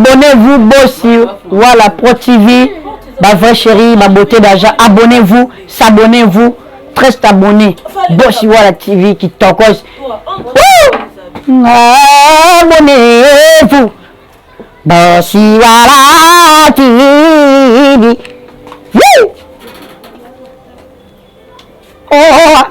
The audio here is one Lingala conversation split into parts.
Abonnez-vous Bossi Wala Pro TV, ba vrai chérie, ba beauté d'agent. Abonnez-vous, s'abonnez-vous, très abonné. Bossi Wala TV qui tokos. Abonnez-vous, Bossi Wala TV. Woo! Oh!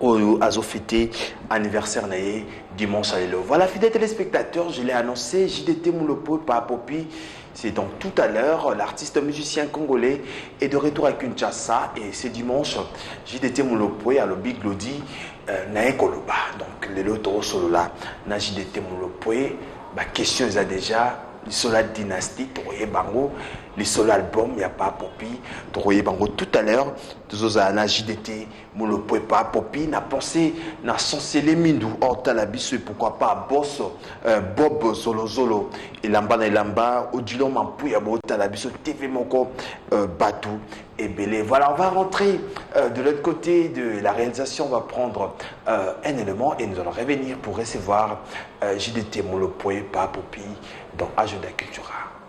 Oyo azo fêter anniversaire na ye dimanche à lelo. Voilà, fidèles téléspectateurs, je l'ai annoncé, JDT Moulopo, Papopi, c'est donc tout à l'heure. L'artiste musicien congolais est de retour à Kinshasa et c'est dimanche. JDT Moulopo, à l'Obi Glody, euh, na Ekoloba. Donc, les lotos solo là, na JDT Moulopo, ma question est déjà lisolo ya dynastie tokoyeba yango lisolo album ya papopi tokoyeba yango tout à l'heure tozozala na jdt Molopwepa Popi na pense na Sansele Mindu otala biso et pourquoi pas boss euh, Bob Zolozolo elamba na elamba Odilo Mampuya botala biso TV moko euh, Batou et Belé. Voilà, on va rentrer euh, de l'autre côté de la réalisation. On va prendre euh, un élément et nous allons revenir pour recevoir euh, JDT Molopwe Popi dans Agenda Cultura.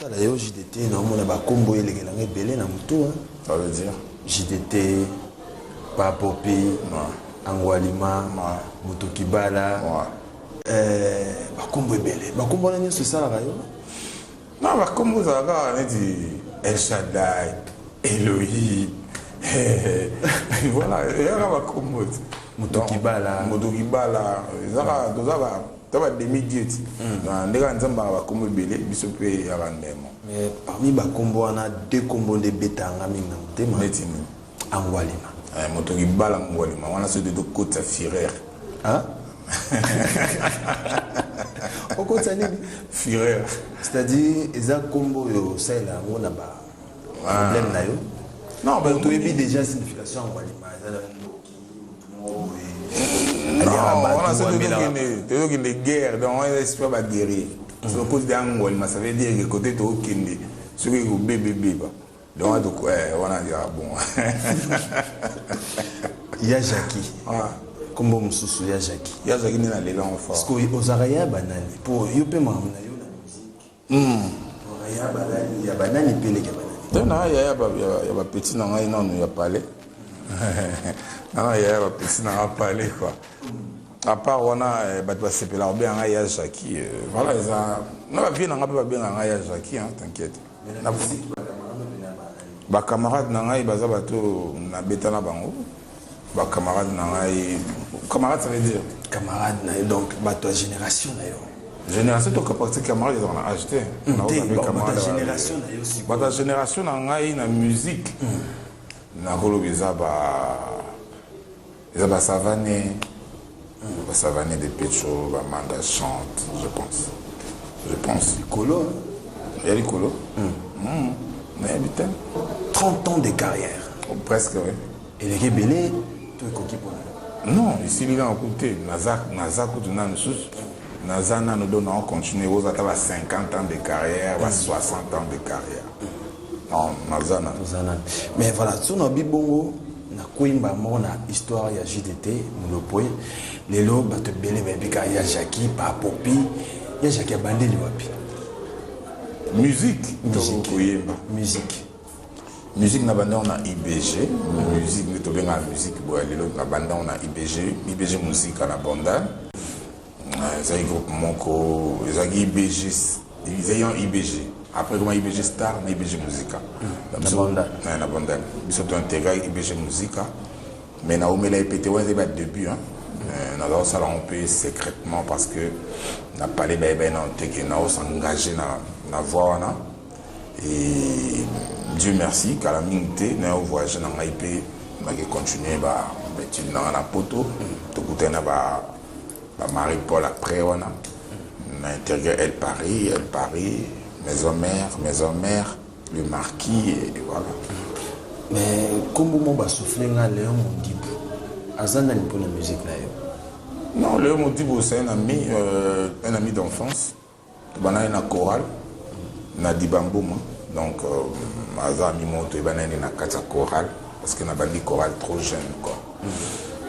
Tala yo JDT na omona ba kombo elekela nga ebele na mutu hein. Ça veut dire JDT pa popi ouais. angwalima ouais. mutu kibala ouais. euh, bakombo ebele bakombo wana nyonso esalaka yo na bakombo ezalaka neti el shadai elohim voilà eyaka bakombo moto kibala moto kibala ezaka toza ba Ata ba demi dieu ti na nde kaka nzambe banga ba kombo ebele biso pe ya ba ndemo. Mais parmi ba kombo wana deux kombo nde ebeta nga mingi na motema. Neti nini? Angwalima. Eh moto libala angwalima wana soki te to kotisa fureur. Hein? okotisa nini? Fureur. C'est à dire eza kombo yo osalela yango na ba problème na yo. Non, ba toyebi déjà signification angwalima eza na tozokende guerre donc wana esprit ba guerrier so cause de angolma ça veut dire que côté tokokende soki ekobebebeba donc wana toko eh, wana ezaka bon ya jacki kombo mosusu ya jacki ya jacki nde na lela ngo fa ozaka ya banani po yo mpe makambo na yo Te na yaya ya ba petit na ngai nanu ya palais nana yaya ba petit na ngai palais quoi à part wana eh, bato basepela kobenga ngai ya jaki eh, voilà eza na bavie na ngai mpe babenga ngai ya jaki t'inquiète bacamarade na ngai baza bato nabeta na bango ba camarade na ngai camarade ça veut dire camarade na ye donc bato ya génération na yo génération toka pratique camarade ezaka na age te bata génération na ngai na musique hmm. nakoloba eza ba eza basavane Ba savane de pecho ba manda chante je pense je pense likolo ya likolo nayebi te 30 ans de carrière oh, presque oui eleki ebele to ekoki mpona non esili kaka kutu te naza kutu na misusu naza nano do nao continue oza ata ba 50 ans de carrière ba 60 ans de carrière non naza nano mais voilà so na bibongo Na kweyi mbala moko na histoire ya jdt mulopwe lelo batu ebele bayebi kaka ya jacki pa popi ya jacki abandeli wapi musique musique koyemba musique musique na bandango na ibg musique nde tobengaka musique boya lelo na bandango na ibg ibg musika na bandal ezalaki groupe moko ezalaki ibg ezalaki en ibg après ekoma ibg star na ibg musica na bondel biso to intégra ibg musica mais naumela ye mpe te wana ezali badébut euh, naza kosala yango mpe secrètement parce que na palais bayebai nano te ke naosengage na voix wana et dieu merci kala mingi te nayo voyage na ngai mpe nake continue baétude na ngai na poto tokutani na ba ba Marie Paul après wana na integre El Paris, El Paris, Maison Mère, Maison Mère, le Marquis et voilà. Mais kombo mo ba souffler nga Léon Modibu. Aza nani pour la musique na yo? Non, Léon Modibu c'est un ami euh, un ami d'enfance. Tobanani na chorale na Dibambuma donc aza ami moko toyebanani na kati ya chorale parce que nabandi chorale trop jeune quoi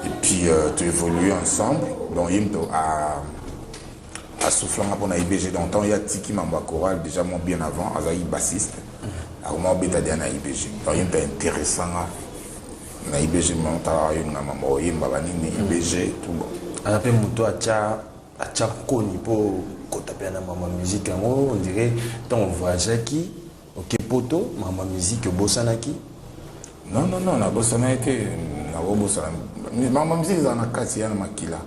et puis euh, to évoluer ensemble donc ye moto a asoufflanga mpo na IBG donc ntango ye atiki mambo ya chorale déjà mwa bien avant azalaki bassiste akoma obeta deja na IBG donc ye moto aintéressanga na IBG motala yo nga mambo oyemba banini IBG tout bon aza mpe moto atya Acha koni po kota pe na mama musique yango on dirait tant voyageaki oke poto mama musique obosanaki non non non nabosanaki te nakobosana mama musique ezala na kati ya na makila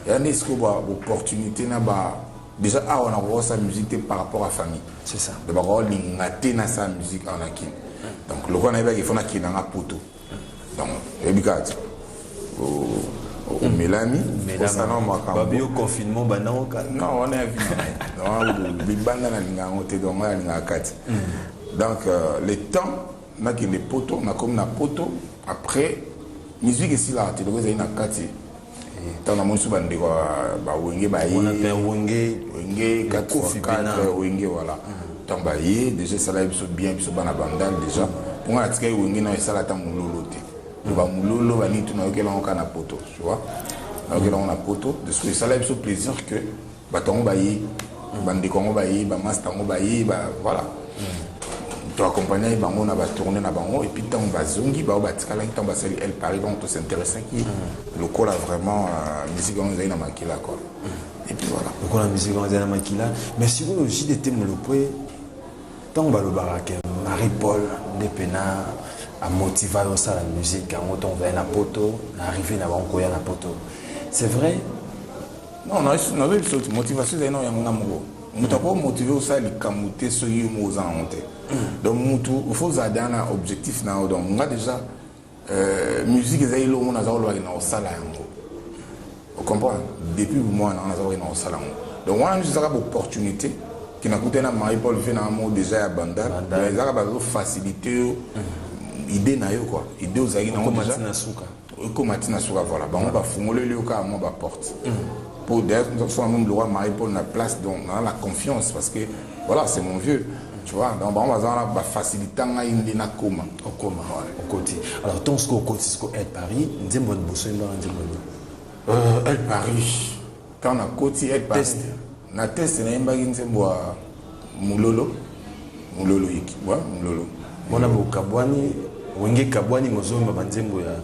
ya nde sikoyo ba opportunité na ba déjà awa nakokosala musique te par rapport à famille c'est ça donc bakolinga te nasala musique awa na kini donc lokola nayebaki ifo nakenda nga poto donc oyebi kaka ti omelani osana makambo confinement banango kaka non wana ya vina libanda nalinga yango te donc ngai nalingaka kati hmm. donc euh, le temps nakende poto nakomi na poto après musique esilaka te loko ezali na kati ntango namoni so bandeko ya bawenge baye wenge 4 4 wenge wala ntango baye deja esalaki biso bien biso bana bandal deja mpo ngai natikaki wenge nao esala ata mololo te bamulolo banitu nayokelango kaka na poto tu vois nayokelango na poto de ce que esalaki biso plaisir que Bato yango baye, bandeko yango baye, bamasta yango baye, ba voilà. To accompagnaki bango na batourne na bango epuis ntango bazongi bango batikalaki ntango basali el paris donc tosinteressaki lokola vraiment euh, miziki yango ezali na makila kua epuis voilà lokola miziki yango ezali na makila mais sikoyo jdete molopwe ntango balobaka ke marie paul nde mpena amotiva yo osala musike yango ntango ozali na poto na arrive na bango koya na poto c'est vrai Non, nazo biso te motivation ezali na yango nga moko. Moto ako motive osala likambo te soki yo moko oza nango te. Mm. Donc motu faut ozala deja na objectif na yo. Donc nga deja euh, musique ezali elongo naza kolobaki na kosala yango. Ocomprendre? Depuis bomwana naza kolobaki na kosala yango. Donc wana nyonso ezaka baopportunité ke nakutani na Marie Paul vie na nga moko deja ya bandal. Ezaka bazo facilite yo mm. idée na yo quoi. Idée ozalaki nango deja. ekoma ti na suka voilà bango bafungoleli yo kaka mwa ba porte po d'ailleurs tozosala meme lokola marie paul na place donc naa na confiance parce que voilà c'est mon vieux tu vois donc bango baza wana bafacilita ngai nde nakoma okoma okoti alors ntongo sikoyo okoti sikoyo el paris nzembo ya liboso yemba na nzembo nini el paris Quand na koti eh, Paris. Na test na yembaki nzembo ya Mulolo. Mulolo yiki. Wa Mulolo. Mona bokabwani wenge kabwani mozomba banzembo ya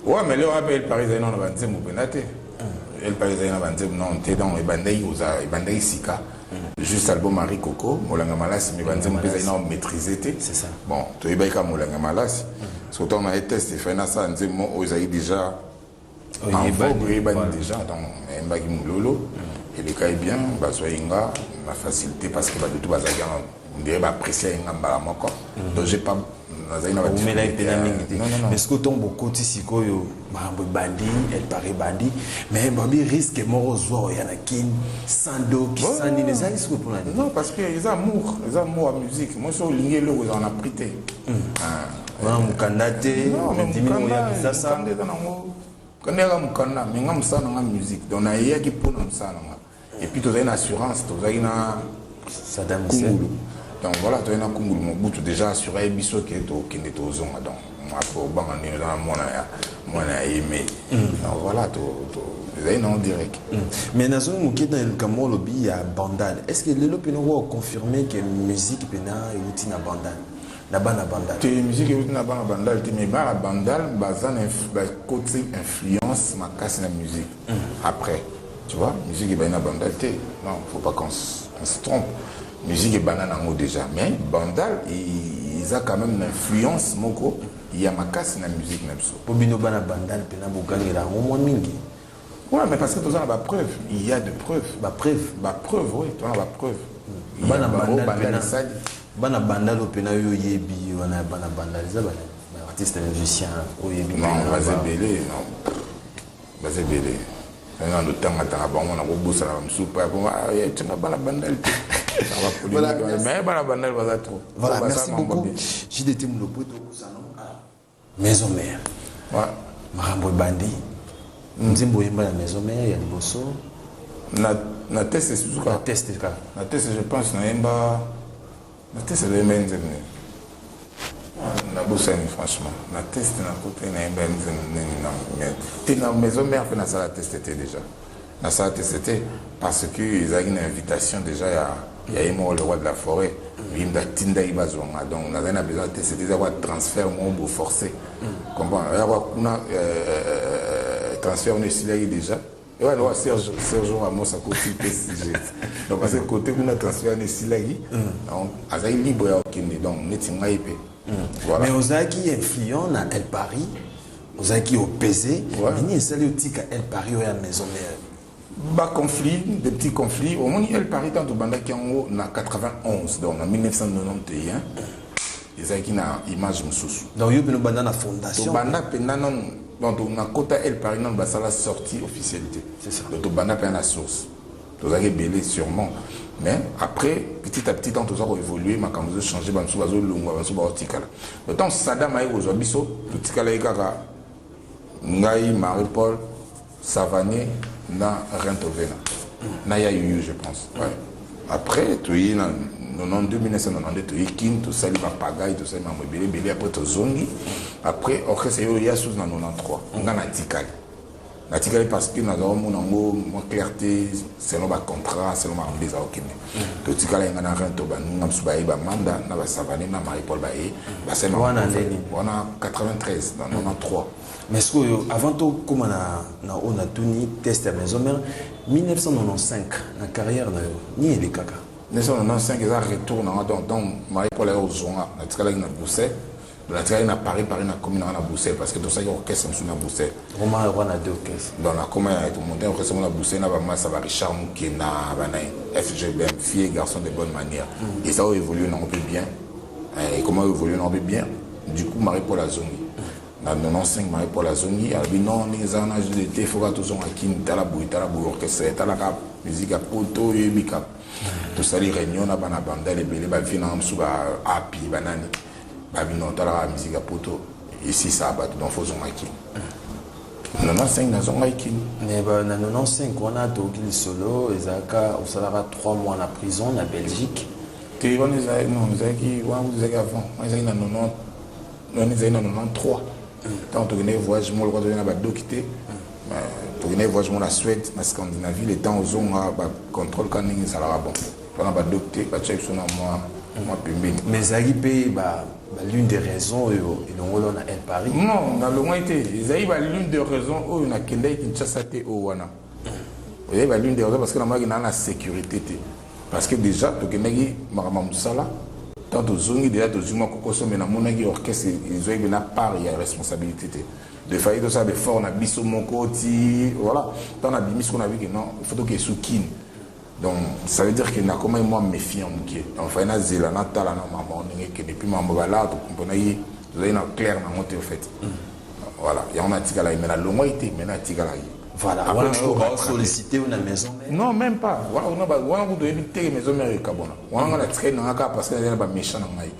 Ouais, mais leo hapa El Paris ezali nano na banzembo mpenza te El Paris ezali na banzembo nano te donc ebandaki kozala ebandaki sika juste album Marie Coco molanga malasi mais banzembo mpe ezali nano maîtrise te bon toyebaki kaka molanga malasi so ntango na ye test efai nasala nzembo oyo ezali déjà oyebani deja donc ayembaki mololo hmm. elekaki bien bazwai nga na facilité parce que badutu bazalaki yango ndeye baapprécie ye nga mbala moko hmm. donc j'ai pas nazali na baumelaki mpe na mingi te mais soki ntongo bokoti sikoyo makambo ebandi elpare ebandi mais babi risque moko ozwa oya na kin sans doki sans nini ezalaki sikoyo mpona non parce que eza amour eza amour ya musique moi so olingi eloko ezala na prix te hmm. ah. wana mokanda te ondimi oya kisasa mokanda yaka mokanda me nga mosala na nga musique donc nayeyaki mpo na mosala na nga epuis tozalaki na assurance tozalaki na kungulu donc voilà toyei na kungulu mobutu déjà assuraki biso ke tokende tozonga donc après obanga ndenge oza na mwana ya mwana ya ye mai mm. donc voilà ezali nango direct mm. mais nazongi moke na likambo olobi ya bandal est ce que lelo mpena okoka confirme ke musique mpena euti na bandal na bana bandal te musique euti na bana bandal te mais bana bandal baza na bakoti influence makasi na musique mm. après tu vois musique ebandi na bandal te non faut pas qu'on on se trompe musique ebanda nango déjà mais bandal eza quand même na influence moko ya makasi na musique na biso po bino bana bandal mpena bogangela yango mwa mingi Ouais mais parce que toza na ba preuve il ya de preuve ba preuve ba preuve oui toza na ba preuve bana bandalisali bana bandalo mpena yo oyebi wana ya bana bandalo eza ba artiste musicien oyebi baza ebele baza ebele na lotangatanga bango na kobosanaka mosusu pa yakotinga bana bandali te mais bana bandali baza trop voilà merci beaucoup jdt molopo tokosana Maison mère. Ouais. Makambo ebandi. Mm. Nzembo oyemba na maison mère ya liboso. Na na teste suka. Na teste kaka. Na teste je pense na yemba na teste le yemba nzembo nini. Na bosani franchement. Na teste na kote na yemba nzembo nini na mais te na maison mère pe na sala teste te déjà. Na sala teste te parce que ezalaki na invitation dejà ya ya ye moko le roi de la forêt Muyimbi atindaki bazwa nga donc nazali na besoin ya teste te eza kwa transfert moko bo forcer mm. comprendre ya kwa kuna euh, euh, transfert wana esilaki déjà ewa na wa Serge Serge Ramos akoti PSG donc parce que côté kuna transfert wana esilaki mm. donc azali libre ya kokende donc neti ngai mpe mm. voilà mais ozalaki influent na El Paris ozalaki opese mais nini esali otika el paris oya maison mère ba conflit des petits conflits omoni el paris ntango tobandaki yango na 91 donc na 1991 ezalaki na image mosusu donc yo mpena obanda na fondation tobanda mpenza nanu donc nakota el paris nanu basala sortie officialité donc tobanda mpenza na source tozalaki ebele sûrement mais après petit à petit temps toza ko évoluer makambo ezo changer bamisu bazolongwa bamisu baotikala le temps sadam aye kozwa biso totikalaki kaka ngai marie paul savane na rentovena na ya yuyu je pense ouais. après toye na 92 1992 toye kin tosali bapagai tosali mambo ebele ebele après tozongi après orchestre eyo ya susu na 93 ngai natikali natikali parce que nazala omona yango mwa clarté selon bacontrat selon makambo nde eza kokende mm. totikala yenga na rento baninga mosusu baye bamanda na basavane na marie paul baye mm. basalwana 93 na 93 mm. mais sikoyo avant tokóma na oyo natuni test ya maison mare 1995 na carrière na yo nini elekaka 1995 eza retour nanga donc donc marie paul aye ozwanga natikalaki na bruxelles natikaki na paris paris nakomi nanga na bruxelles parce que tosalaki orchestre mosusu na bruxelles okoma yoko na deux orchestre donc nakoma ya tomonte orchestre ngo na bruxelles na bamasa ba richard mokena banai fgbm fille garçon de bonne manière mm. eza oyo évolue nango mpe bien eh, ekoma oyo évolue nango mpe bien du coup marie paul azongi mm. na 95 marie paul azongi alobi non ndenge eza wana jude te foka tozonga kini tala boye tala boye orchestre etalaka musique ya poto oyo eyebika mm. tosali réunion na bana bandal ebele bavie nanga mosusu baapi banani ba bino tala ka musique ya poto ici ça bat donc faut zonga kin na 95 na zonga kin mais ba na 95 wana to ki solo ezaka osalaka 3 mois na prison na Belgique te wana ezaki non ezaki wana ezaki avant wana ezaki na 90 wana ezaki na 93 ntango tokendaki voyage moko lokola tozali na badoki te tokendaki voyage moko na suède na scandinavie le temps ozonga bacontrôle ka ndenge ezalaka bon Wana ba docte ba tia biso na mwa mwa pembeni. Mais ezalaki mpe ba ba lune de raison oyo elongoli yo na El Paris? Non, nalongwaki te. Ezalaki ba lune de raison oyo nakendaki Kinshasa te oyo wana. Ezalaki ba lune de raison parce que namonaki naa na securite te. Parce que dejà tokendaki makambo ya mosala ntango tozongi dejà tozwi mwa kokoso mais namonaki orchestre ezwaki mpe na part ya responsabilité te. De fallait tosala ba effort na biso moko ti voilà ntango nabimi sikoyo nayoki ke non il faut tokende sous Kin. Donc ça veut dire que nakomaki mwa méfiant moke donc fai nazela natala na maman ndenge ekende puis maman balaa tokomponaki tozali na claire nango te ofait mm. voilà yango natikalaki mai nalongwaki te mai natikalaki Voilà, wana okoka solliciter na maison mère. Non, même pas. Wana wana ba wana kudo yebi te maison mère ekabona. Wana ngana tikai na ngaka parce que na ba méchant na ngai.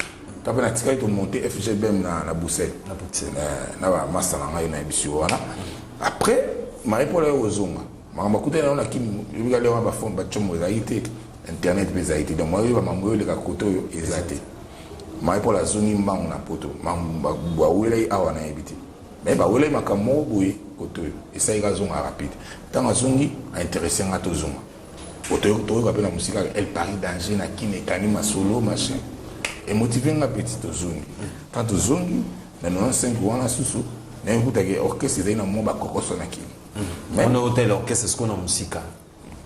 To pe na tikai to monter FGBM na na Bruxelles. Na Bruxelles. Eh, na ba master na ngai na bisu wana. Après, Marie-Paul ayozonga. Makambo akutani na yango na Kin, lobi kaka leo ba phone ba tshombo ezalaki te, internet mpe ezalaki te, donc maye oyeba makambo oyo eleka kote oyo eza te. Maye Paul azongi mbangu na poto, makambo bawelaki awa nayebi te. Mais bawelaki makambo moko boye kote oyo esalaki azonga rapide. Ntango azongi a interesse nga tozonga po toyoka mpe na mosika kaka el paris danger na Kin ekani masolo machin emotive nga petit tozongi. Ntango tozongi na 95 wana susu nayoki kuta ke orchestre ezali na mwa bakokoso na Kin. Mais on a hôtel orchestre ce qu'on a musika.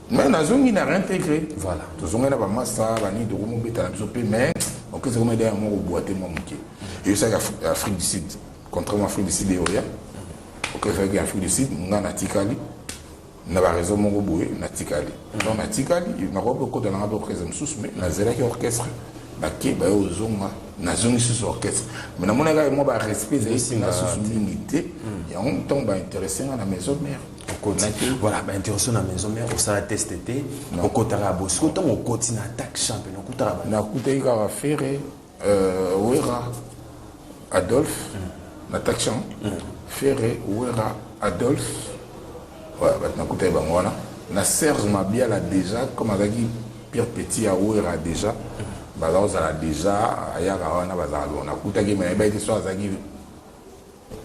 Mais on a zongi na réintégré. Voilà. Tout zongi na ba massa, ba ni doko mobeta na biso pe mais orchestre comme derrière mon boîte mon muke. Et ça Afrique du Sud, contrairement à Afrique du Sud et Oya. Ok, fait que Afrique du Sud, on a tikali. na baraison moko boye natikali donc natikali nakoki kokota nanga ba orchestre mosusu mais nazalaki orchestre bake baye ozonga nazongi susu orchestre mais namonaka ye mwa ba respect ezali singa susu mingi te yango ntango bainteresse nga na maison mère voilà bainteresse na maison mère osala teste te okotaka ya bosiko ntango okoti na attaque champion okutaka nakutaki kaka fere euh, wera adolphe na attaque champ fere wera adolphe bato nakutaki bango wana na serge mabiala déjà comme azalaki Pire petit ya Werra dejà baza kozala dejà ayaka wana bazala bon nakutaki mais ayebaki te so azalaki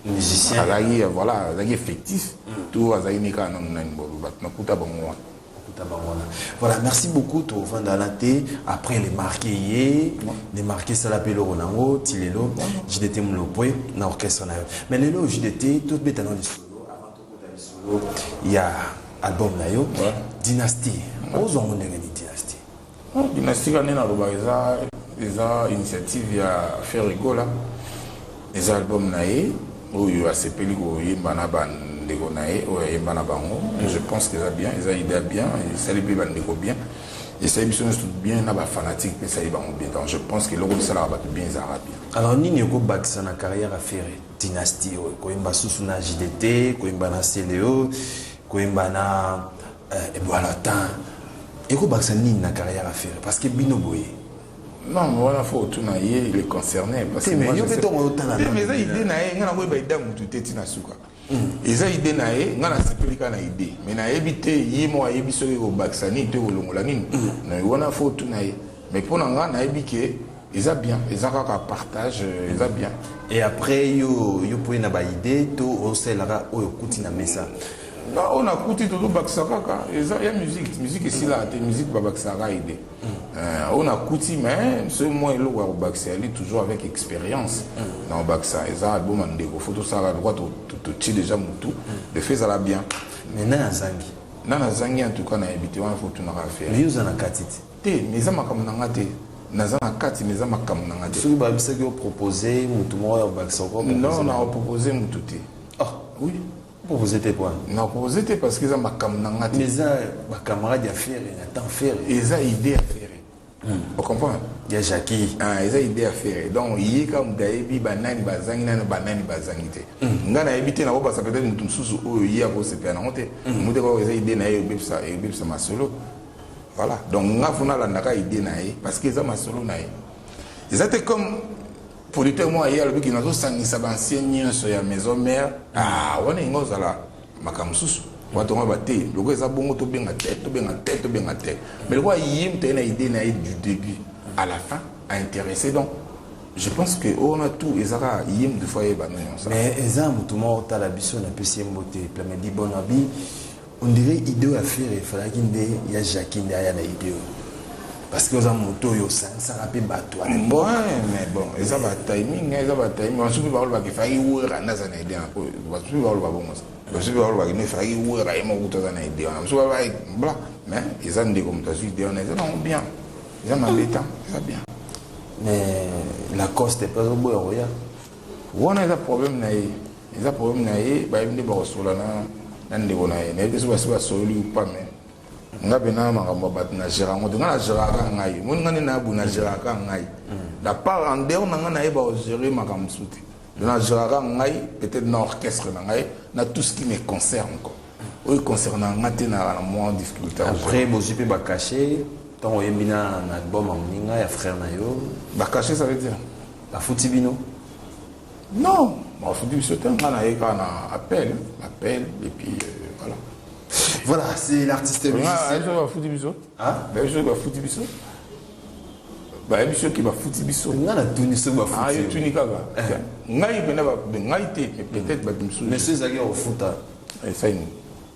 musicien azalaki voilà azalaki effectif mm. to azalaki ne kaka nanu nani bobo bato nakuta bango wana voilà merci beaucoup tovanda na te après les marqué ye les marqué esala mpe eloko nango ti lelo jdt molopwe na orchestre na yo mais lelo jdt tobeta na lisolo Tokota lisolo ya album na yo Dynastie. Ozwa ngo ndenge ni Dynastie? Oh, Dynastie kane nalobaka eza eza initiative ya Ferre Gola. Eza album na ye oyo asepeli koyemba na bana ndeko na ye oyo ayemba na bango je pense que eza bien eza idea bien esali mpe bandeko bien esali biso nyonso bien na bafanatique mpe esali bango bien donc je pense que eloko bisalaka bato bien ezalaka bien alors nini ekobakisa na carrière ya ferre Dynastie oyo koyemba susu na JDT, koyemba na Celeo, koyemba na euh, Edouard Latin. Ekobakisa nini na carrière ya Ferre parce que bino boye. Non, mais voilà, faut tout naïe, il est concerné. Parce que moi, je sais... Mais ça, idée naïe, on a envoyé Baïda Moutoute Tinasuka. eza idée na ye ngai nasepeli kaka na idée mais nayebi te ye moko ayebi soki ekobakisa nini to ekolongola nini na wana fo tuna ye mais mpo na ngai nayebi ke Eza bien, eza kaka partage, eza bien. Et après yo yo poye na ba idée to osalaka oyo kuti na mesa. Ba on a kuti to bakisa kaka, eza ya musique, musique esila te, musique ba bakisa ka idée. Mm. Euh, on a kuti mais ce moi eloko ya bakisa ali toujours avec expérience. Mm. Na bakisa eza album ya ndeko, faut to sala droit to to ti déjà mutu, mm. le fait ça la bien. Mais na zangi. Na na zangi en tout cas na habité, on faut tout na faire. Mais yo za na katiti. Te mais eza makambo na nga te. Naza na kati mais eza makambo na nga te. Soki bayebisaki yo propose mutu moko ya obakisa ko propose. Non na propose mutu te. Ah oui. Propose te quoi. Na propose te parce que eza makambo na nga te. Mais eza ba camarades ya Ferre na temps Ferre. Eza idée ya Ferre. Hmm. Vous comprenez Ya Jackie. Ah, ils ont idée à faire. Donc, il est comme Daebi, Banani, Bazangi, Nani, Banani, Bazangi. Hmm. Nga na ebite na ko basa peut-être mutum susu oyo ye ako sepela na ngote. Mutu ko eza idée na ye obebisa, obebisa masolo. Voilà, donc nga funa landaka idée na ye parce que eza masolo na ye. Eza te comme producteur moko aye alobiki nazosangisa baancien nyonso ya maison mare ah, wana ingo ozala makambo mosusu bato yango bate lokola eza bongo tobenga te tobenga te tobenga te mais lokola ye moto aye na idée na ye du début à la fin a intéressé donc je pense que oyo wana tout eza kaka ye moto fo ayeba no yango mais eza moto moko otala biso napesi ye mbote plamedi bon abi On dirait ideo ya Ferre falaki nde ya Jackie nde aya na ideo. parce que oza moto oyo osangisaka mpe bato ya lembo mais bon eza ba timing eza ba timing basusu mpe bakolobaka efaki wera nde aza na ide yango basusu mpe bakoloba bongo basusu mpe bakolobaka nde efaki wera ye moko kutu aza na ide wana basusu baba bla mais eza ndeko moto azwi ide wana eza nango bien eza mabe tan eza bien mais lacoste mpe azoboya koya wana eza problème na ye Eza problème na ye bayebi nde bakosolola na na ndeko na ye nayebi te soki basi basololi ou pas mais nga pena makambo ya bato na gérant ngo te nga na géraka ngai omoni nga nde nayabu na géraka ngai la part en dehors na nga nayeba ogere makambo mosusu te na géraka ngai peut-être na orchestre na ngai na tout ce qui me concerne quoi oyo concerne nga te na mwa difficulté après bozwi mpe bacachet ntango oyembi na album ya moninga ya frère na yo bacachet ça veut dire bafuti bino Non, bafuti biso te nga naye kaka na appel appel et puis euh, voilà voilà c'est l'artiste musicien bafuti biso bayebi soki bafuti biso bayebi soki bafuti biso nga natuni soki bafutiotuni ah, kaka eh. ngai mpena ngai te peut-être bato mosusu monsieur ezalaki ya kofuta esai eh, nini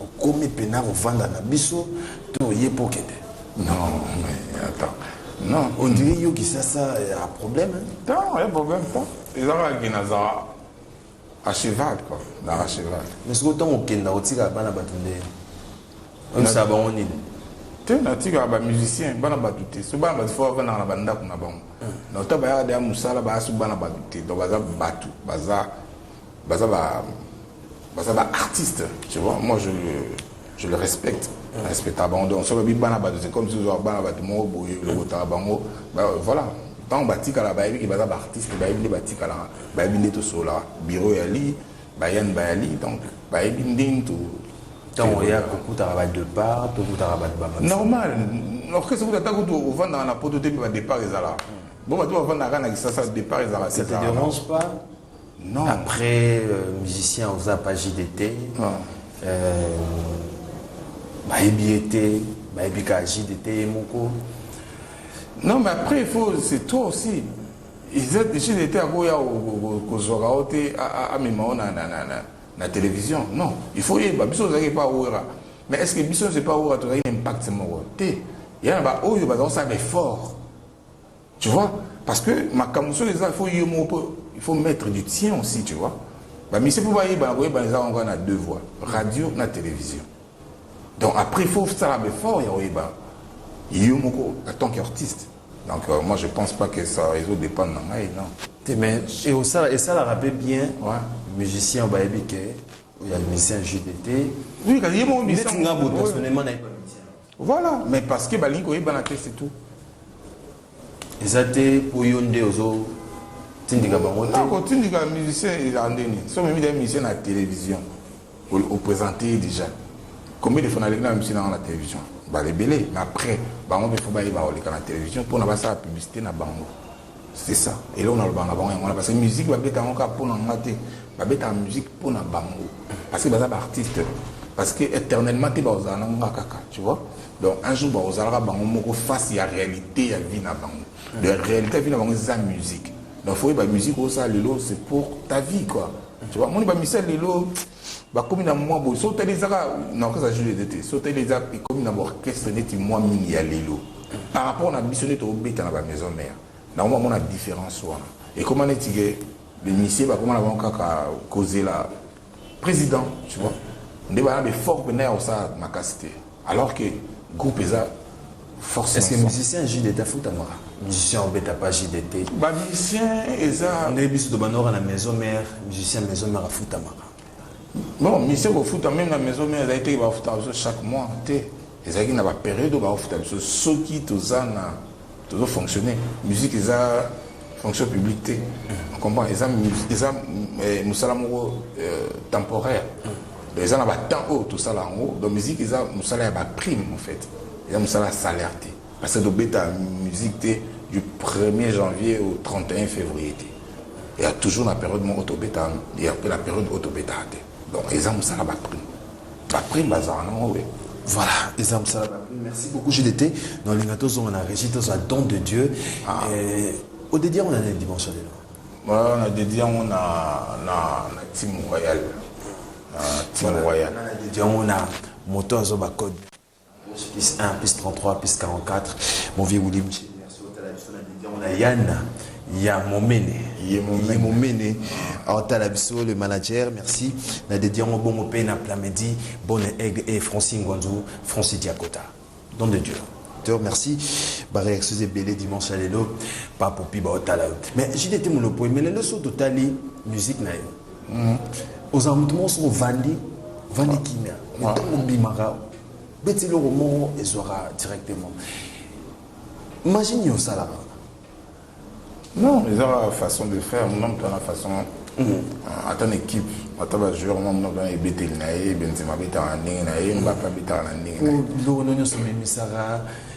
Okomi pena kovanda na biso to oye po okende? Non, mais attends. Non, on dirait yo Kisasa ya problème. Hein? Non, ya problème pas. Ezaka ki na za à cheval quoi, na à cheval. Mais ce que tant okenda otika bana batu nde. On sa ba on nini? Te na tika ba musiciens bana batu te. So bana batu fo bana na banda kuna bango. Na to ba ya da musala ba su bana batu te. Donc baza batu, baza Baza ba baza ba artistes, tu vois. Moi je je le respecte. Mm. Respecta bango donc soki bi bana bato c'est comme si ozo bana bato moko boye mm. lokota bango bah, voilà ntango batikala bayebi ke baza baartiste bayebi nde batikalaka bayebi nde tosololaka biro ya li bayani baya li donc bayebi ndenge to ntango oya kokutaka badepart tokutaka bato ba normal orchestre kuta ata kutu ovandaka na poto te mpe badepart ezalaka bo bato bavandaka na kisasa depart ezalaka te Non. Après euh, musicien oza pas JDT. Non. Euh, bayebi ye te bayebi kaka JDT ye moko. Non mais après il faut c'est toi aussi. JDT akoya kozwaka yo te amema yo na na na na na télévision. Non, il faut yeba biso ozalaki pa wera. Mais est-ce que biso c'est pas wera tozalaki na impact moko te. Yana ba oyo bazali kosala ba effort. Tu vois, parce que makambo soki eza faut yo moko po il faut mettre du tien aussi, tu vois. Ba mise po bayebana koyebana eza yango na deux voies, radio na télévision. Donc après il faut sala befort ya koyeba yo moko en tant qu'artiste. Donc euh, moi je pense pas que ça ezo dépendre na ngai non. Te mais et osala esalaka mpe bien Ouais. musicien bayebi ke oya musicien jdt Oui, kasi ye moko neti nga botasonema nayebi Voilà mais parce que balingi koyebana te c'est tout. eza te mpo yo nde ozotindika bango te kotindika musicien eza ndeni so memi da musicien na télévision oprésente ye déjà combien de fois naleki na musicien nanga na télévision balebele mais après bango mpe fo bayeba koleka na télévision mpona basala publicité na bango C'est ça. Eloko na lobanga bango yango parce que musique ba beta yango ka pona nga te. Ba beta musique pona bango parce que baza ba artistes parce que éternellement te ba ozala na nga kaka, tu vois. Donc un jour ba ozala ka bango moko face ya réalité ya vie na bango. De réalité vie na bango za musique. Donc faut ba musique au ça lelo c'est pour ta vie quoi. Tu vois, moi ba misel lelo bakomi na mwa boye so otali ezaka na orchestre ya jules ede te so otali eza ekomi na baorchestre neti mwa mingi ya lelo par rapport na biso nde tokobeta na bamaison mare na yango bamona différence wana ekoma neti ke bemisie bakoma na bango kaka kozela président tu vois nde bana befort mpena ya kosala makasi te Alors que groupe eza force. Est-ce que musicien JDT afutamaka? Musicien obeta pas JDT. Ba musicien eza nde biso to banora na maison mère, musicien maison mère afutamaka. Non, musicien kofuta même na maison mère ezali te bafuta biso chaque mois te. Ezalaki na ba période bafuta biso soki toza na tozo fonctionner musique eza fonction publique te comprend eza eza eh, musala moko euh, temporaire donc eza na ba temps oyo tosala yango donc musique eza musala ya ba prime en fait eza musala ya salaire te parce que tobeta musique te du 1er janvier au 31 février te il y a toujours la période mon autobeta il y a la période autobeta donc ils ont ça la prime Après Lazare, non, oui. Voilà, eza mosala na bino. Merci beaucoup JDT. Na olinga tozonga na Régis tozwa don de Dieu. Ah. Eh, odedi yango na nini dimanche ya lelo? Voilà, na dedi yango na na na team royal. Na team royal. Na dedi yango na moto azoba code. plus 1 plus 33 plus 44 mon vieux Willy Michel merci otala biso na media on a Yana ya momene ye momene aotala biso le manager merci na dedi yango bongo mpe na plamedi bonne aigle et franci ngwanzu franci diakota don de dieu te remercie bareaction ebele dimanche ya lelo papopi baotala yo mais jdt molopo emelelo so totali musique na yo Mm. ozala moto moko soki ovandi ovandi kimia ntango obimaka beti eloko moko ezwaka directement magie nini osalaka non ezaka façon de faire muna moto wana façon mm. ata na équipe ata bajoueur mwa muna mpena ebeteli na ye benzema abetaka na ndenge na ye mbape abetaka na ndenge na ye biloko no nyonso omemisaka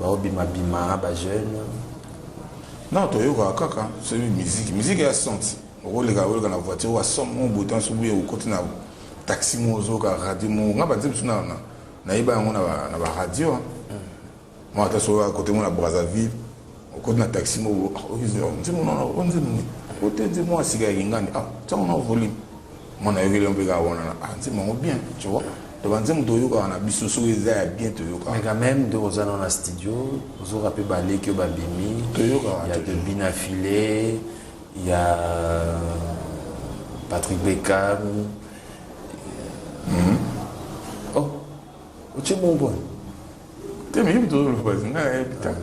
Bao bima bima ba jeune. Non toyokaka kaka soki musique musique ya senti okoleka koleka na voiture wa somme mo boye tanso boye okoti na taxi mo ozoyoka radio mo nga banze biso na nayeba yango na ba radio mo ata soki oya kote mo na brazzaville okoti na taxi mo nzembo nano nzembo ote nzembo asika ya kingani ah ntango na volume Moi nayokeli yo mpe kaka wana na ah, nzembo yango bien tu vois to banzembo toyokaka na biso soki eza ya bien toyokaka mais quand même nde oza nao na studio ozoka mpe baleki oyo babimi toyokaka ya bebina filet ya patrick beckham mm -hmm. otie bongo wana te miyibi tozoloba nga nayebi ta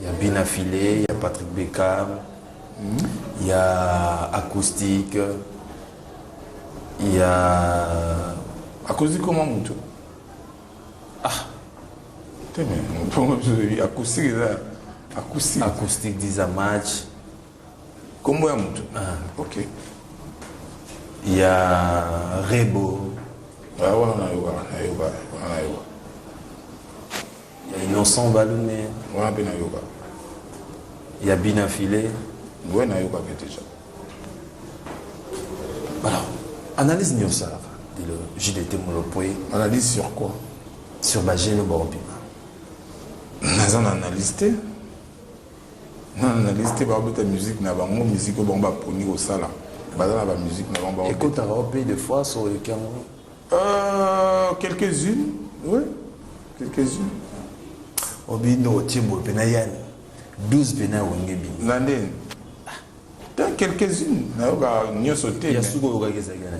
ya bina file ya patrick beckham hmm? ya acoustique ya acoustique koma moto ah te me mpongo biso acoustique eza acoustique acoustique disa match Kombo ya mutu ah ok ya rebo ah, wana nayoka nayoka wana nayoka ya innocent balume wana mpe nayoka ya bina file ngoye nayoka mpe deja alors analyse nini osalaka dilo jdt molopwe analyse sur quoi sur bagene baobima naza na analyse te Na analyse te ba beta musique na bango musique oyo bango ba poni ko sala baza na ba musique na bango ba ekotaka au pays de fois so oleki yango euh quelques unes oui quelques unes obindo otie boye mpe na yani 12 mpe na wenge bino na ndeni ta quelques-unes nayoka nyonso te ya suka oyokaki ezalaki na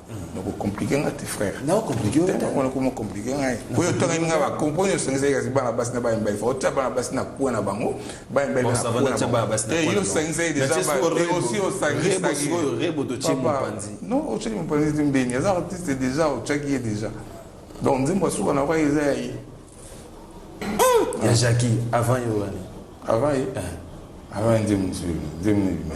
noko complique nga te frère nao complique yo te nako mo complique nga po yo tonga nga ba compo yo sengi seki bana basi na ba mbaye fo tia bana basi na kuwa na bango ba mbaye na kuwa na ba basi na yo sengi seki déjà ba te aussi o sengi seki yo rebo to chimo panzi non o chimo panzi te mbeni aza artiste déjà o chaki déjà donc nzimbo suka na kwa eza ya ye ya Jackie avant yo wani avant ye eh. avant nzimbo nzimbo nzimbo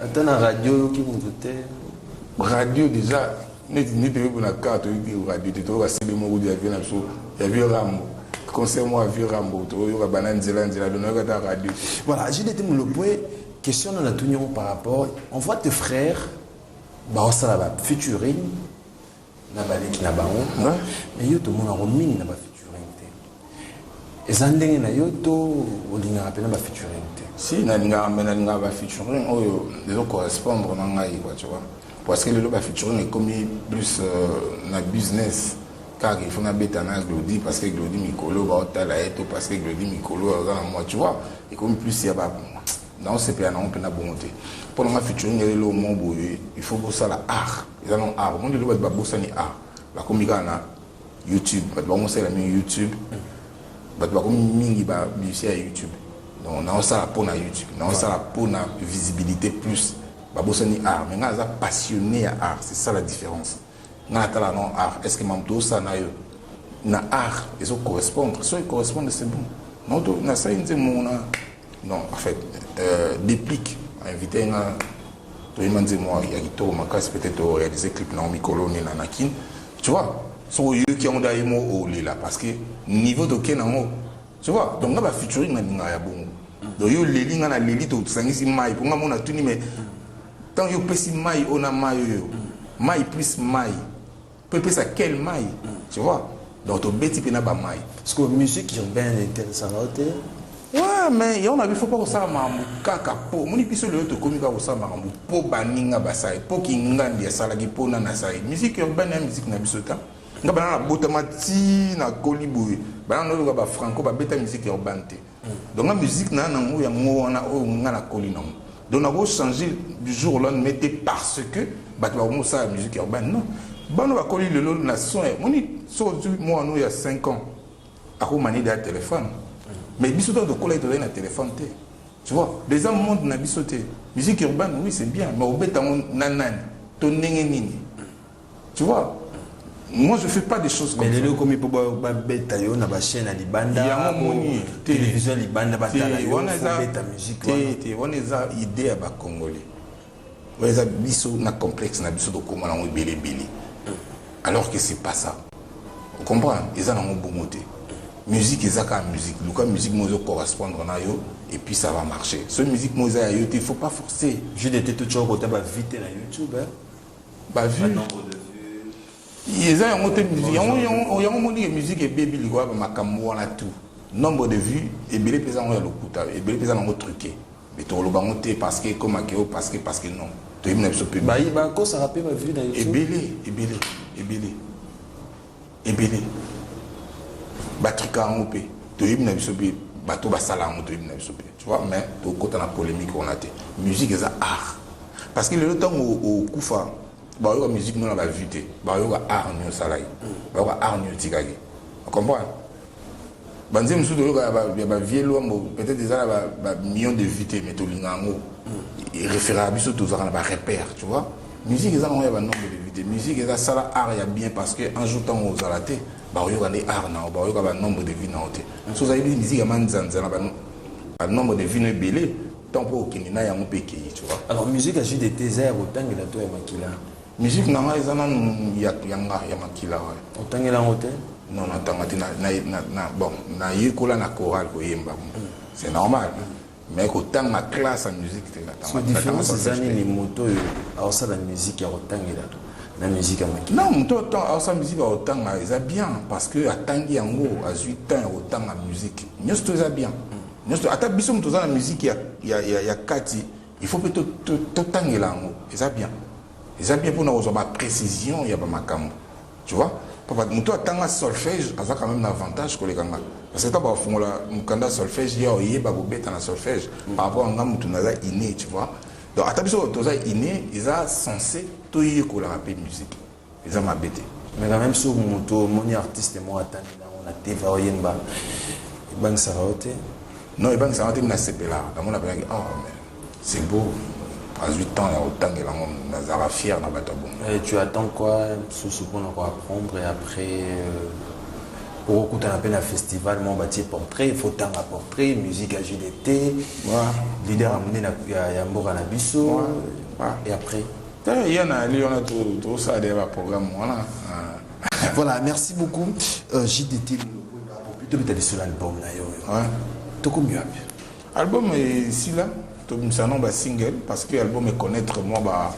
ata na radio oyoki moto te radio deja neti nde toyoki na kar toyoki radio te toyoka sebe moko de avie na biso ya vieux rambo concert moko ya vieux rambo toyoka bana nzela nzela do nayoka ata radio te voilà je dete molopwe question nana tuni yango par rapport on voit tes frères baosala ba featuring na baleki na bango mais yo tomonango mingi na ba featuring te eza ndenge na yo to olingaka mpena ba featuring te si nalingaka mpe nalingaka ba featuring oyo ezo correspondre na ngai quoi tu vois parce que lelo ba featuring ekomi plus euh, na business kaka il faut nabeta na glodi parce que glodi mikolo baotala ye to parce que glodi mikolo aza na moi tu vois ekomi plus ya ba nao sepela nango mpena bongo te mpo na nga featuring elelo omo boye il faut bosala art eza nango art omoni lelo bato babosani art bakomi kaka na youtube bato bango mosalela mingi youtube bato bakomi mingi ba musicien ya youtube donc naosala mpo na youtube naosala mpo na visibilité plus babosani art mais ngai aza passionné ya art c'est ça la différence ngai natala non art est ce que mamoto osala na yo na art ezo correspondre soki correspondre c'est bon naoto nasali nze mongo na Non, en fait, euh, déplique, invité nga toyema nzembo ya kitoko makasi peut-être oréalise clip na mikolo ni na nakin tu vois soki oyoki yango da ye mo olela parce que niveau toke nango tu vois donc nga bafeaturing nalingaka ya bongo donc yo oleli nga naleli tosangisi mai mpo nga mona tuni mais ntango yo opesi mai oyo na mai oyo mai plus mai Mpe epesa kel mai, tu vois. Donc tobeti mpe na ba mai. Sikoyo musique urbaine etelisaka yo te? Ouais, mais yango na bifo mpo kosala makambo kaka mpo omoni biso lelo tokomi kaka kosala makambo mpo baninga basali mpo kingandi asalaki mpo nani asali musique urbaine ya musique na biso ta nga bana nabotama ti nakoli boye bana nayoka bafranco babeta musique urbaine te Donc la musique na nango ya ngo wana oyo nga na koli nango. Donc na ko changer du jour au lendemain te parce que bato ba komo sala musique urbaine ben non. Bano ba koli lelo na son moni so tu moi no ya 5 ans ako mani da téléphone. Mais biso to to kola to na téléphone te. Tu vois, les hommes monde na biso te. Musique urbaine oui c'est bien mais obeta ngo nanani to ndenge nini. Tu vois moi je fais pas des choses comme mais lelo komi po ba beta yo na ba chaîne ya libanda ya moni télévision libanda ba tala yo wana eza beta musique wana te wana eza idée ya ba congolais wana eza biso na complexe na biso tokoma nango ebele ebele alors que c'est pas ça vous comprenez eza nango bongo te musique eza kaka musique luka musique mo ezo correspondre na yo et puis ça va marcher ce musique mo eza ya yo te il faut pas forcer je de te tout choko ta ba vite na youtube hein? ba vues eza yango te musique yango yango yango moni ke musique ebebi likoya ba makambo wana tout nombre de vues ebele mpeza yango ya lokuta ebele mpeza nango truqué mais tokoloba yango te parce que ekoma keo parce que parce que non toyebi na biso mpe ebele ebele ebele ebele batrika yango mpe toyebi na biso mpe bato basala yango toyebi na biso mpe tu vois mais tokota na polémique wana te musique eza art parce que lelo ntango okufa bayoka musique no na bavue te bayoka art nio osalaki bayoka art nio otikaki comprendre banzembo mosusu toyoka ya bavie lwambo peut-être eza na bamillion de vue te mais tolinga yango referaka biso tozalaka na barepère tu vois musique eza nango ya banombre de vue te musique eza sala art ya bien parce que un jour ntango ozala te bakoyoka nde art na yo bakoyoka banombre de vue na yo te so ozali bi musique ya manzanza na banombre de vue no ebele ntango mpo okende na yango mpe ekei tu vois alors musique ya jdt eza ya kotangela to ya makila Musique na nga eza nanu ya ya nga ya makila ouais. Otangeli yango te? Non na tanga te na na na, na bon na yekola na chorale koyemba. Mm. C'est normal. Mm. me kotanga classe ya musique te différence eza nini moto oyo aosala musique ya kotangela na musique ya maki non moto aosala musique ya kotanga eza bien parce que atangi yango azwi temps ya kotanga musique nyonso to eza bien nyonso ata biso moto oza na musique ya, ya, ya, ya kati Il faut pe totangela yango eza bien eza bien pona kozwa ba precision ya ba makambo tu vois papa moto atanga solfège aza quand même na avantage koleka nga parce que ta bafungola mokanda solfège ya oyeba kobeta na solfège par rapport anga moto naza inné tu vois donc ata biso toza inné eza censé toyekolaka pe musique eza mabe te mais quand même soki moto omoni artiste moko atangi nango na tv oyemba ebangisaka yo te non ebangisaka te nasepelaka namona mpenaki oh ah, mais c'est beau azwi temps ya kotangela yango nazalaka fier na bato ya bongo eh, tu attends quoi mosusu mpona koapprendre et après euh, okokutana mpe na festival moko batie portrait il faut tanga portrait musique ya gdt leader ya monene ya mboka na biso et après Eh, ya na ali wana tosala deya baprogramme wana ah. voilà merci beaucoup euh, jdt tobeta lisolo album na yo oyo tokomi wapi album esila tobimisa no basingle parce que album econnaître mwa ba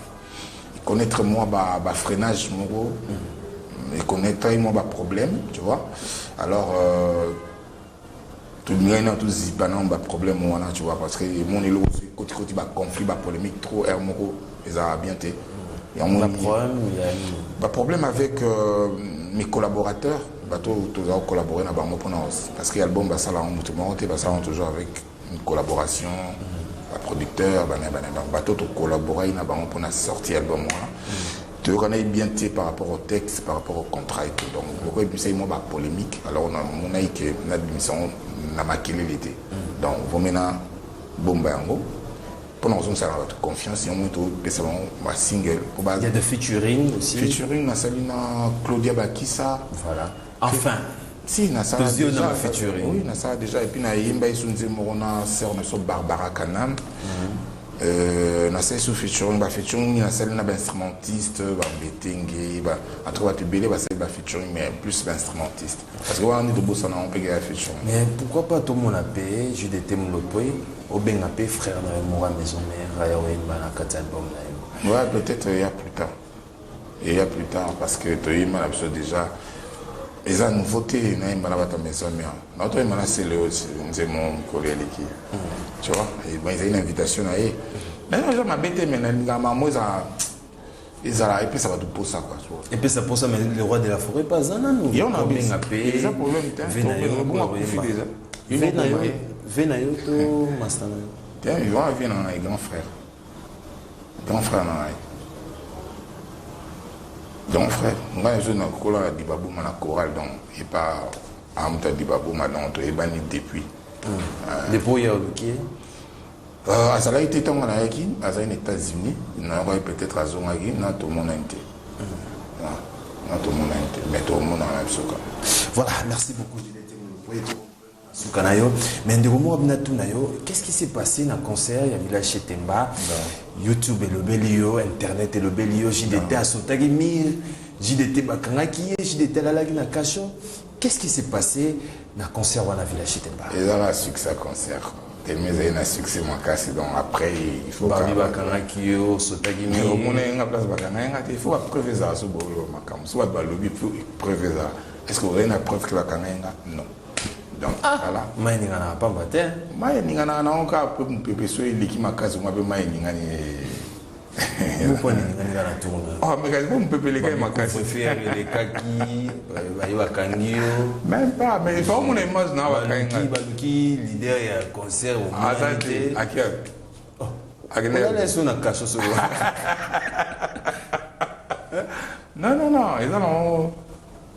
econnaître mwa bafreinage moko mm. econnaître mwa baproblème tu vois alors euh, tolingaki nao tozipa nao baproblème wana tu vois parce que emoni eloko soki kotikoti baconflit bapolémique trop aire moko ezalaka bien te yango baproblème avec euh, mes collaborateurs bato tozala kocollabore na bango mpona parce que album basala yango moto moko te basala yango toujours avec collaboration ba producteur bana bana donc bato to collaboraki na bango mpona sorti album wana toyokanaki bien te par rapport au texte par rapport au contrat ete donc moko ebimisaki mwa bapolémique alors namonaki ke nabimisa yango na makelele te donc vomena bomba yango mpona kozongisaka bato confiance yango topesa bango basingle featuring nasali na claudia bakisa voilà Enfin, si nasala Tozio na déjà ba featuring. oui nasala déjà et puis nayemba isu nzembo moko na sœur na biso Barbara Kanam Euh, nasali su featuring ba featuring mingi nasali na ba instrumentiste ba mbetenge ba en tout cas bato ebele basali ba featuring mais plus ba instrumentiste parce que wana nde tobosana yango mpeke ya featuring Mais pourquoi pas tout mon AP, je d'étais mon lopé, au ben AP, frère na Mora Maison Mère, Raya Wemba, na Kati album na yo. ouais peut-être ya plus tard eya plus tard parce que toyemba na biso déjà eza nouveau te nayemba na bato ya maison mère na toyemba na celeo nzembo mokolo ya leki tu vois eh ezali na invitation na ye naye naza mabe te me nalingaka mamo eza ezala epesa bato mposa kua epesa mposa mais le roi de la forêt mpe aza nanu obenga mpe eza problème te obonga kufi déjà ve na yo to masta na yo te yo avie na na grand frère Grand frère na ngai. Grand frère, ngai nazo na kola na Dibabuma na chorale donc et pas amta Dibabuma donc to ebani depuis. Hmm. Euh, depuis ya oluki. Euh, azalaki te ntango nayaki azalaki na états-unis nayokaki peut-être azongaki na tomonani te hmm. na tomonani te mais tomonana biso kaka voilà merci beaucoup suka na yo mais ndeko moko bina tuna yo qu'est-ce qui s'est passé na concert ya village chez Temba YouTube elobeli yo internet elobeli yo JDT asotaki mire JDT bakangaki ye JDT alalaki na kasho qu'est-ce qui s'est passé na concert wana village chez Temba eza na succès concert tellement ezali na succès makasi donc après il faut babi bakangaki yo osotaki mire omona ye nga place bakangaki nga te il faut bapreuve ezala so bolo makambo so bato balobi preuve ezala est ce que ozali na preuve ke bakangaki nga non donc ah, voilà mai eninganaka pamba te mai eninganaka nango kaka mpe mopepe so eleki makasi kuna mpe mai eningani amekaki mpo mopepe elekaki makasielekaki baye bakangi yo meme pas mais efa omona image na bakangi baluki leader ya concert aza te akia akendeleso na kaso so non non non eza nango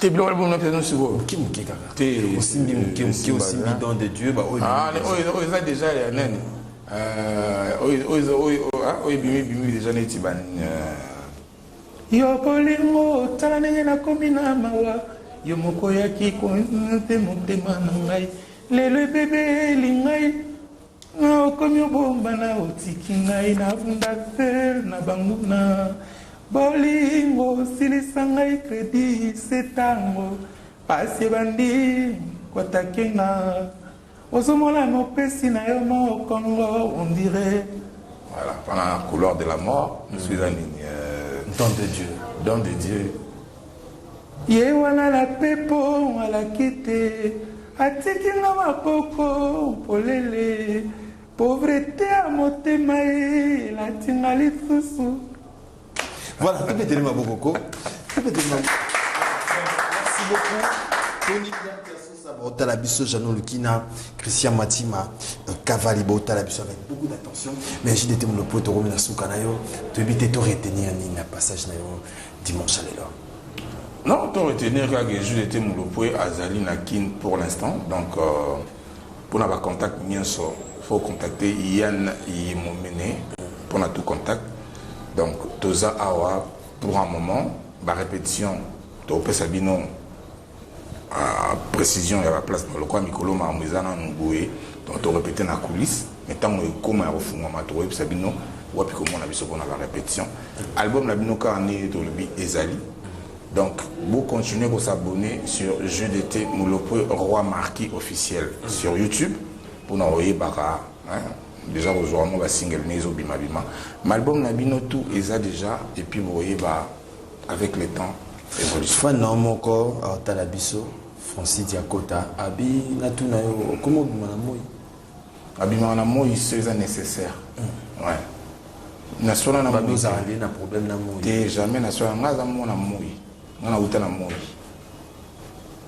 te biloko ya bomona pesa sikoyo moke moke kaka te osimbi moke moke osimbi don de dieu baoyo ah, oyo eza deja ya nani euh, oyo ah, ebimi ebimi deja neti ba euh. yo bolingo tala ndenge nakomi na mawa yo moko oyaki kote motema na ngai lelo ebebeli ngai Nga okomi obomba na otiki ngai na bunda tel na banguna bolingo silisa ngai credit se tango pasi ebandi kwatake nga ozomona mopesi na yo mokongo on dirait voilà pendant couloir de la mort mm. suis un nini euh, don de Dieu don de Dieu Ye walala pepo alakite atiki nga maboko polele pauvrete ya motema ye elati nga lisusu voilà tobeteli maboko ko tobeteli maboko merci beaucoup botala biso jano lukina christian matima kavali euh, botala biso avec beaucoup d'attention mais jdt monopo tokomi na suka na yo toyebi te to retenir nini na passage na yo dimanche ya lelo non to retenir kaka jesus ete mulopwe azali na kin pour l'instant donc euh, mpona bacontact nyonso faut contacter yann yemomene mpona tout contact donc toza awa pour un moment barépétition tokopesa bino Ah, precision ya ba place mais lokola mikolo makambo eza nanu boye donc torepete na coulisse mais ntango ekoma ya kofungwama tokoyebisa bino wapi komona biso mpona ba répétition album na bino kaka ndenge tolobi ezali donc vous continuez à s'abonner sur jeu d'été mulopwe roi marquis officiel sur youtube pour mpona oyebaka hein, déjà kozwa mwa basingle ne ezobimabima malbum na bino tout eza déjà et puis vous voyez bah avec le temps evolution fan na moko aotala biso Francis Diakota abi natuna yo okoma obima na moi abimaka na moi so eza nécessaire mm. ouais naswana na moi ozala nde na problème na moi te jamais naswana ngai aza mona moi ngai nauta na moi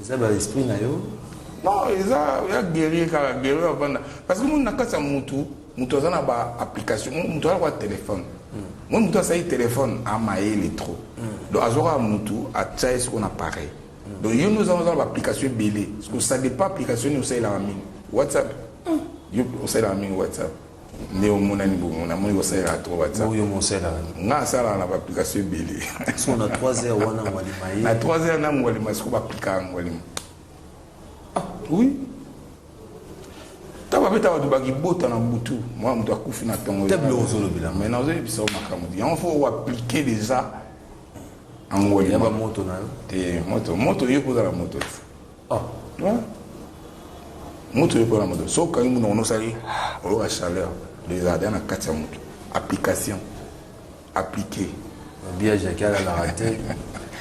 eza ba esprit na yo non eza ya guerrier kaka guerrier avanda parce que moni na kati ya mutu mutu aza na ba application mutu aza kwa telefone moi mutu asali telefone amayele trop mm. donc azwaka mutu atya ye soko na pareil mm. donc yo nde ozanga ozala baapplication ebele soko ça dépend application nini osalelaka mingi whatsapp mm. yo osalelaka mingi whatsapp nde omonani bongo namoni kosalelaka trop whatsapp oyo mosalaka nga asalaka na baapplication ebele so na 3 heures wana ngwalima ye na 3 heures na ngwalima siko baplikaka ngwalima ah oui ntango babeta bato bakibota na butu mwa moto akufi na ntongo te biloko ozolobela mai nazoyebisa yo makambo te yango fo oaplike deja angwalima bamoto na yo te moto moto yo kozala moto te Ah, hein? Mutu yo pona moto. So kangi mutu ono sali oyoka chaleur des ardeurs na kati ya mutu. Application. Appliquer. Bia Jacques ala la raté.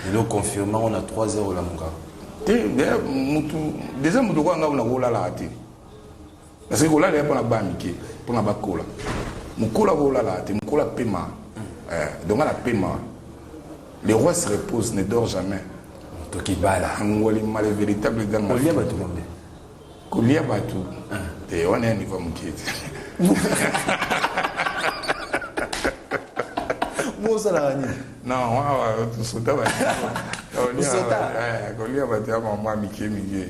Et le confirmant on a 3-0 la muka. Te, mutu, déjà mutu kwa nga on a la raté. Parce que kolala ya pona ba mike pona ba kola. Mukola ko lala te mukola pema. Euh, donc la pema. Le roi se repose, ne dort jamais. Toki bala. Angoli mal véritable dans ma. Kolia batu kombe. Kolia batu. Ah. Et on est niveau muke. Mozala ni. Non, on va tout sauter. Kolia batu ya maman mike mike.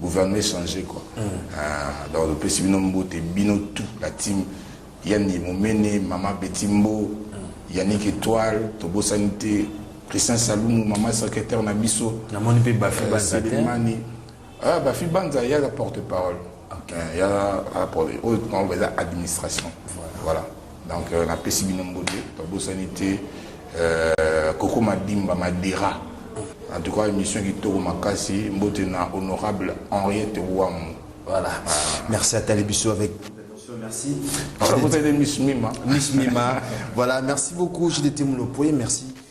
Gouvernement échangé quoi. Ah, donc le pesi bino mbote bino tout la team Yanni Momene, Mama Betimbo, Yannick Étoile, Tobo Sanité, Christian Salumu, Mama secrétaire na biso. Na moni pe Bafi euh, Banza te. Ah, Bafi Banza ya la porte-parole. Okay. Euh, ya la porte, oh, on va dire administration. Voilà. voilà. Donc euh, na pesi bino mbote, tobosani te euh, Koko Madimba Madera. En tout cas émission kitoko makasi, mbote na honorable Henriette Wamu. Voilà. Ah. Merci à Talibiso avec Merci. Miss Mima. Miss Mima. voilà, merci beaucoup, JDT Moulopoye, merci.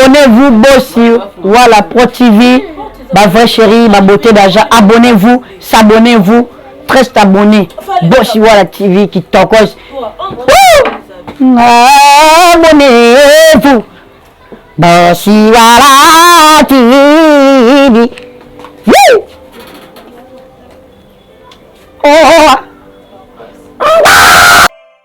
Abonnez vous bosi wala pro TV ba vrai chérie ba beauté d'argent abonnez vous s'abonnez vous très abonné bosi wala TV qui tokos abonnez vous bosi wala TV Woo! Oh!